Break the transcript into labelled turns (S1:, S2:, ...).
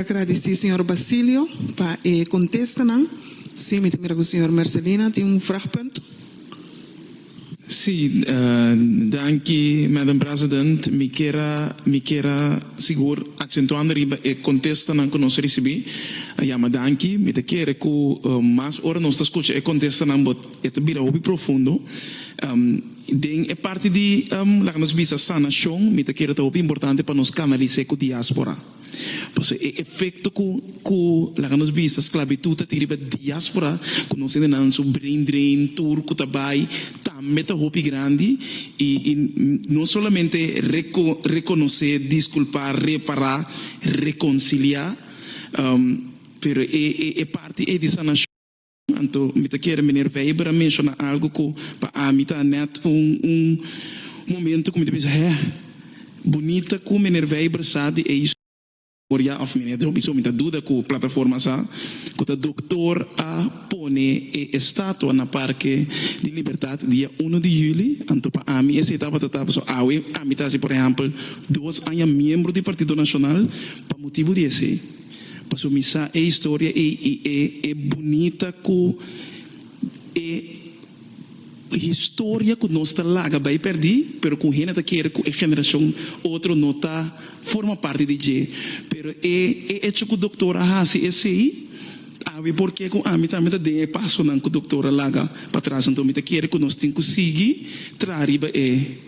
S1: Agradeci señor Basilio pa e contestanan. Si, mi ta mira cu señor Mercelina tin un vragpunt. Si, danki Madam President. Mi kera mi kera sigur acentuando riba e contestanan cu nos a ricibi. A yama danki. Mi ta kere cu mas ora nos ta scucha e contestanan but e ta bira hopi profundo. Den e parti di laga nos bisa sanacion mi ta kere ta hopi importante pa nos canalis'e cu diaspora. Pasobra e efekto ku ku laga nos bisa sklabitut ta tin riba diáspora ku nos hendenan su brain drain tur ku ta bai tambe ta hopi grandi i i no solamente reko rekonosé diskulpá repará rekonsiliá pero e e parti ei di sanashon Anto mi ta kere Meneer Weijber a menshona algu ku pa ami ta nèt un un momento ku mi ta bisa, hè, bunita ku Meneer Weijber sa di e historia òf Meneer Dobie so mi ta duda ku plataforma sa ku ta doktor a pone e estatua na Parke di Libertad dia uno di Juli. Anto pa ami esei tabata ta paso awe ami ta hasi por ehèmpel dos aña miembro di Partido Nacional pa motibu di esei. Paso mi sa e historia ey y e e bunita cu e historia cu nos ta laga bay perdi, pero con hende ta kere cu e generacion otro no ta forma parti di dje. Pero e e hecho cu doctor a haci esey, awe porque cu ami tambe ta den e pasonan cu doctor a laga patras. Anto mi ta kere cu nos tin cu sigui traha riba e.